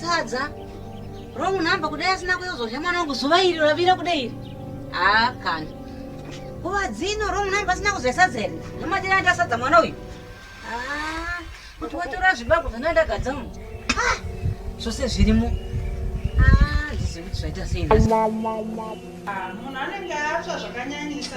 sadza wrong number kudai asina kuyozodya mwana wangu zuva iri ravira kudai iri haa kana nguva dzino wrong number asina kuzodya sadza iri ndomatira anda sadza mwana uyu haa kuti watora zvibago zvana ndagadza mu ah, zvose zvirimo ah, zvizivi kuti zvaita sei ah, munhu anenge atsva zvakanyanyisa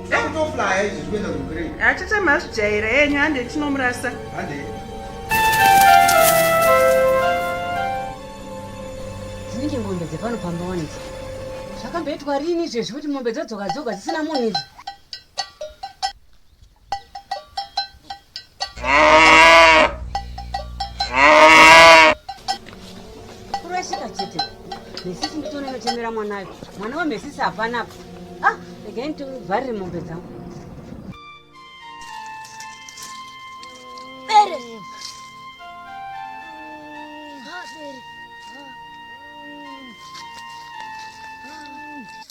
Yakutoflaya izvi zvikuenda kugrey. Achita mazvijaira yenyu hande tinomurasa. Hande. Dzinenge mombe dzepano pamba wanidzi. Zvakamboitwa rini izvezvi kuti mombe dzodzoka dzoga dzisina munhu idzi. kurashika chete mesisi nditoona inochemera mwanayo mwana wemesisi hapana apa ah regai nditovharire mombe dzangu Bere. Ah, bere.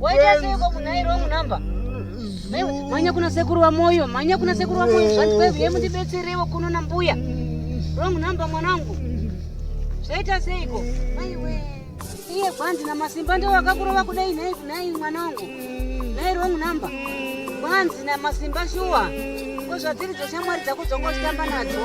Waita seiko munhu airi wrong number? Manya kuna sekuru wa moyo, manya kuna sekuru wa moyo zvanzi kwevi ye mundibetserewo kuno na mbuya. Wrong number mwanangu. Zvaita seiko? Mai we. Iye kwanzi na masimba ndio wakakurova kudai nhai kunai mwanangu. Nhai wrong number. Kwanzi na masimba shuwa. Ko zvatiri dzeshamwari dzako dzongoshamba nadzo.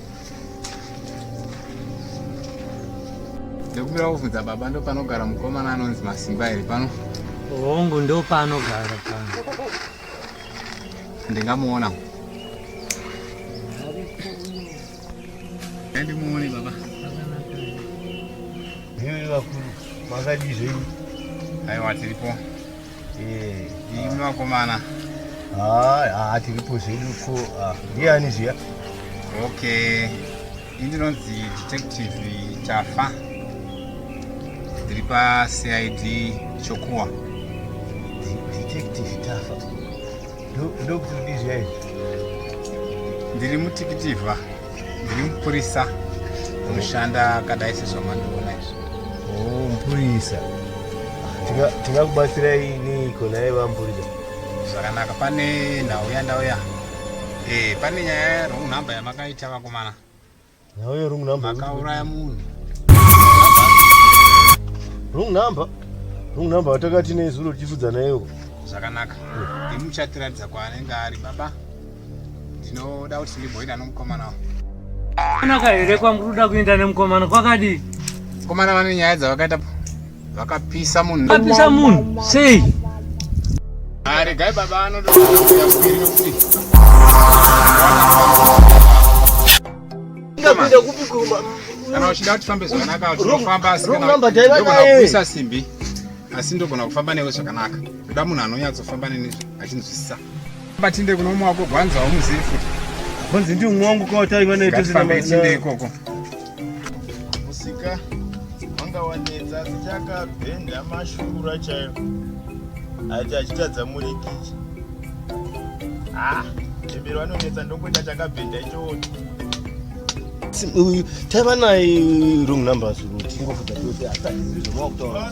ndokubira kuvhunza baba ndopanogara mukomana anonzi masimba here pano hongu ndopaanogara pano ndingamuona ndimuone baba vakuru makadii zvenyu aiwa tiripo imi vakomana haa tiripo zvedu ko ndiani zviya okay ini ndinonzi detective tafa ndiri pacid chokuwa detective tafa ndiri mutikitivha ndiri mupurisa unoshanda akadai sezvamandiona izvo oh, mupurisa tingakubatsirai niiko naye vamupurisa zvakanaka pane nhau yandauya eh, pane nyaya runhamba yamakaita vakomana Nauyo wrong number. Akauraya munhu. Wrong number. Wrong number watakati nezuro tichifudza nayo. Zvakanaka. Ndimuchatiratidza kwaanenge ari baba. Ndinoda kuti ndimboenda nomukomana wangu. Kana kahere kwamuri kuda kuenda nemukomana kwakadii? Mukomana vane nyaya dzavakaita Vakapisa munhu. Vakapisa munhu sei? Ari gai baba anoda kuti Ndapinda kupi kumba? Kana uchida kuti fambe zvakanaka tinofamba asi kana ndogona simbi asi ndogona kufamba newe zvakanaka. Ndoda munhu anonyatsofamba neni achinzwisisa. Batinde kuno umwe wako gwanza wamuzivi futi. Bonzi ndi umwe wangu kwa taiva naye tose na ikoko. musika wanga wanetsa asi chakabhenda mashura chaiyo aiti achitadza murikichi ah chembero vanonetsa ndongoita chakabhenda ichooti taiva naye wrong numbers tingofuta tose hatazizvi zvamava kutaura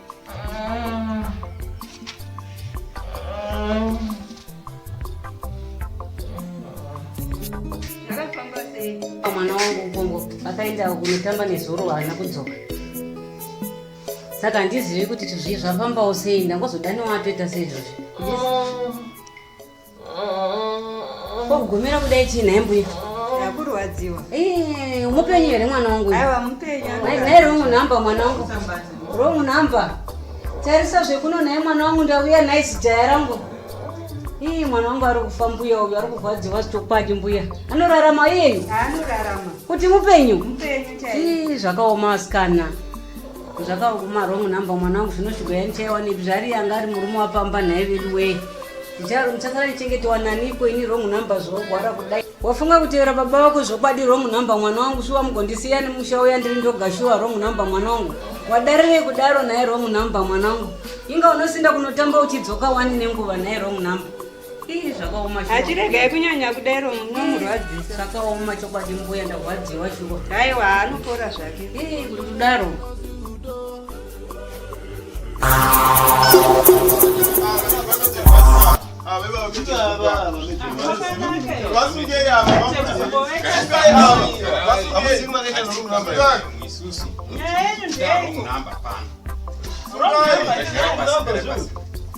mwana wangu ukongo akaenda kunotamba nezuro haana kudzoka saka handizivi kuti zvii zvafambawo sei ndangozodaniwa atoita seizvozvi Kogomera kudai chii nhai mbuya? Ndakurwadziwa. Eh, mupenyu here mwana wangu? Aiwa mupenyu. Nhai wrong number mwana wangu. Wrong number. Tarisa zvekuno nhai mwana wangu ndauya nhai zijaya rangu. Ii mwana wangu ari kufa mbuya uyu ari kurwadziwa chitokwadi mbuya. Anorarama yeye? Anorarama. Kuti mupenyu? Mupenyu chaiye. Ii zvakaoma asikana. zvakaoma wrong number mwana wangu zvino zvigoya ndichaiwanepi zvari yanga ari murume wapamba nhai vedu wee ndicharo ndichasara ndichengetiwa naniko ini wrong number zvorwara kudai wafunga kutevera baba vako zvokwadi wrong number mwana wangu shuwa mugondisiya nemusha uya ndiri ndoga shuwa wrong number mwana wangu wadarirei kudaro nhai wrong number mwana wangu inga unosinda kunotamba uchidzoka wani nenguva nhai wrong number Ii zvakaoma chokwa- hachiregai kunyanya kudaro munomurwadzisa zvakaoma chokwadi mbuya ndarwadziwa shuwa haiwa anopora zvake Ii, kuti kudaro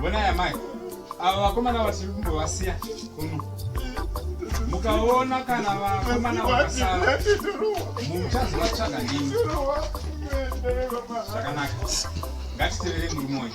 Bonai amai, ava vakomana vatiri kumbovasiya kuno. Mukaona kana vakomana vakasara, muchazovatsvaga ndimi. Zvakanaka, ngatitevere murume uyu.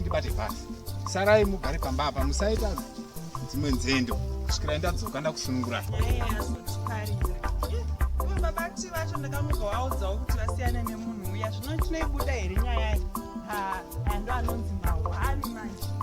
ndibate bhasi sarai mugare pamba apa musaita dzimwe nzendo kusvikira ndadzoka ndakusunungurai vabati vacho ndakamuka waudzawo kuti vasiyane nemunhu uya zvino chinoibuda here nyaya iyi ando anonzi mahwani manje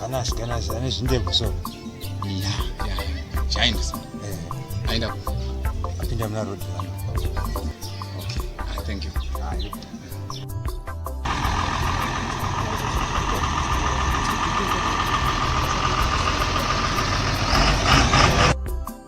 kana asikana ane zvindebvu so chaendesa eh. aenda apinda muna road ah, thank you ah,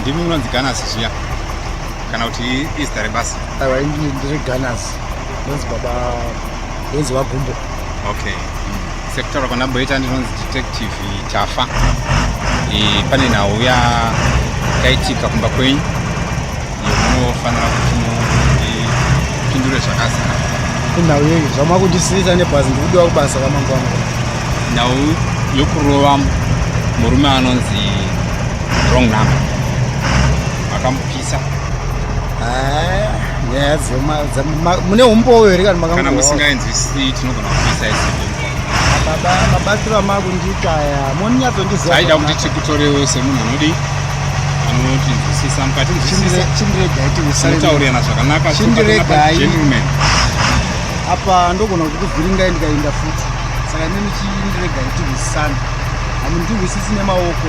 ndimi munonzi ganas zviya kana kuti izita rebasa aiwa ndiri ganas ndonzi baba ndonzi vagumbo okay mm. sekutaura kwandamboita ndinonzi detective tafa e, pane nhau yakaitika kumba kwenyu yokunofanira kuti mupindure zvakazara inhau yei zvamava kundisiisa nebhazi ndikudiwa kubasa kwamangwana nhau yokurova murume anonzi wrong number nyaya dzemune umbowo here kana makakana musingainzwisii tinogona kuisa isi mabatsiro amakundiita aya moninyatondizia aida kuti tikutorewo semunhu anodii anotinzwisisa mukati nzwisisataurirana zvakanaka gentleman apa ndogona kuti kuvhiringai ndikainda futi saka ine muchindiregai tihwisisana hamundiwhisisi nemaoko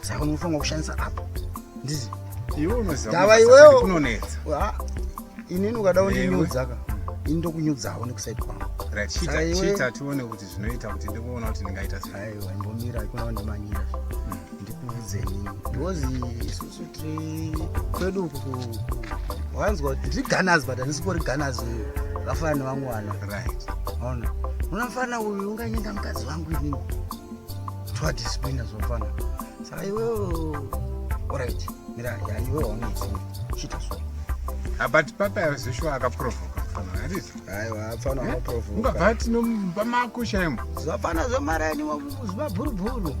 saka unofanira kushandisa app ndizi iwe unoziva ndava iwewo kunonetsa inini ukada undinyudzaka ini ndokunyudzawo nekusaidi kwangu chiita tione kuti zvinoita kuti ndikuona kuti ndingaita aiwa imbomira ikunawo ndimanyira hmm. ndikuudzeni because isusu tiri kwedu uku wanzwa kuti ndiri ganas but handisipori ganas uyu vafana nevamwe vana right ona unafana uyu unganyenga mukadzi wangu inini Twa discipline zvofana. Saka iwe alright. Mira, ya iwe waunetsi. Chita so. Ah, but papa yazishwa akaprovoka fana harizi aiwa apfana akaprovoka ungabva tinomba mako shaimo zvapfana zvamaraini ziva bhurubhuru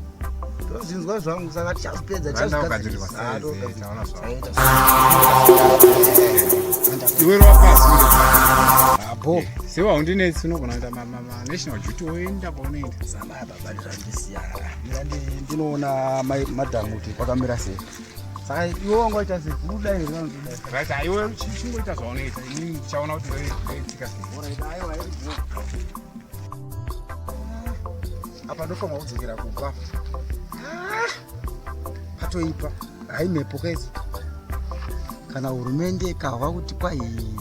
tozinzwa zvangu saka tichazipedza tichazigadzirisaaiwerowapaabo sewaundinetsi unogona kuita national duty woenda kwaunoenda ndinoona madhamu kuti kwakamira sei saka iwe wanga waita sekuda here vanotodarit aiwe chingoita zvaunoita ini ndichaona kuti ndoitsika apa ndofanwa kudzokera kubva patoipa haimhepo kaizi kana hurumende ikahwa kuti kwai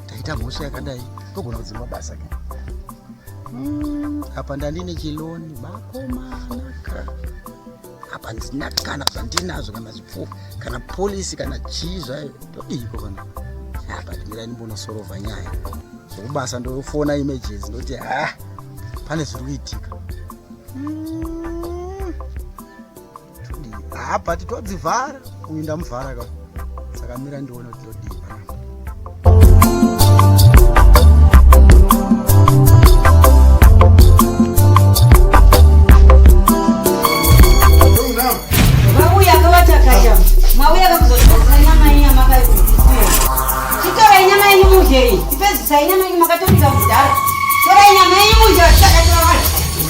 taita mhosva yakadai togona kudzima basa ke Mm, apa ndandine chiloni makomanaka apa ndina kana zvandinazvo kana zvipfuwa kana polisi kana chii zvayo todiiko kana apa ndimira ndimbonosorova nyaya zvekubasa ndofona images ndoti ha ah, pane zviri kuitika mm. haa ah, but todzivhara uyu ndamuvhara ka saka mira ndione kuti todii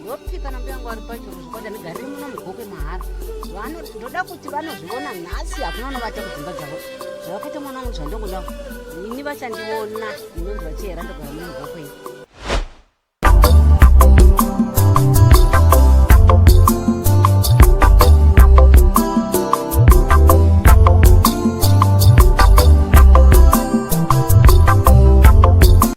Ndoti kana mbuya vangu vari pacho kuzvikwata ndigare muno mugokwe mahara vanoti ndoda kuti vanozviona nhasi hakuna unovata kudzimba dzavo zvavakaita mwana wangu zvandongoda ini vachandiona inonzi vachihera ndogara muno mugokwe iyi